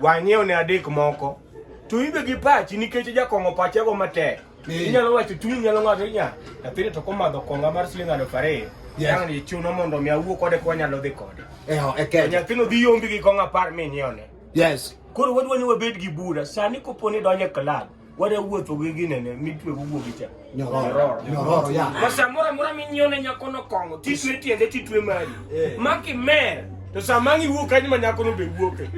Wang'iew ne adek moko. To ibe gi pachi nikech jakong'o pache go matek. Inyalo wacho chuny nyalo ng'ado nya. Nyathini to komadho konga mar siling aluf ariyo. Yang ni chuno mondo mi awuo kode kwa nyalo dhi kode. Eh, okay. Nyathino dhi yombi gi konga par mi nyione. Yes. Koro wadwa ni wabed gi bura. Sani koponi donje club. wadawuotho gi ginene mitwego guogi cha nyororo ya ma samoro amora minyione nyakono kong'o titwe tiende titwe mari eh. ma kimer to sama ang' iwuok kanyo ma nyakono be wuoke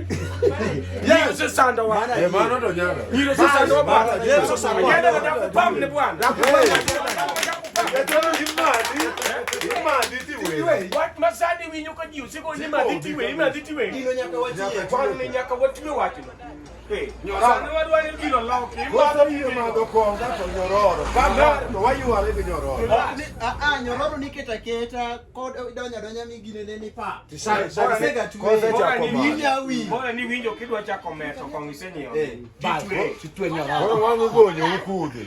nyiro sesandowa eh, mano to nyaka nyiro sesandowa bwana yesu sandowa nyaka dakupam ne bwana dakupam Wat masani winyo ka ji osego ni madhi tiwe, imadhi tiwe. Gino nyaka watiwe. Kwano ni nyaka watiwe wachno. Nyororo niketa keta kod donya donya mi gine ne ni pa. Sega tuwe. Bora ni winjo kidwa chako meto kong isenyiwa. Bas, titwe nyororo. Wangu gonyo ukude.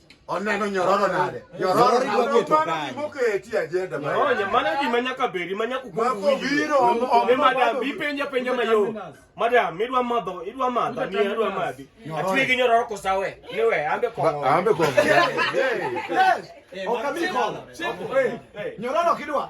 oneno nyororo nade nyororo moketi ajenda maonye mano gima nyaka bedi ma nyaka ukukuwinjone madam ipenja penja mayom madam idwa madho idwa madha ni adwa madhi atwe gi nyororo kosawe niwe ambe kongo ambe kongo okamiko nyororo kidwa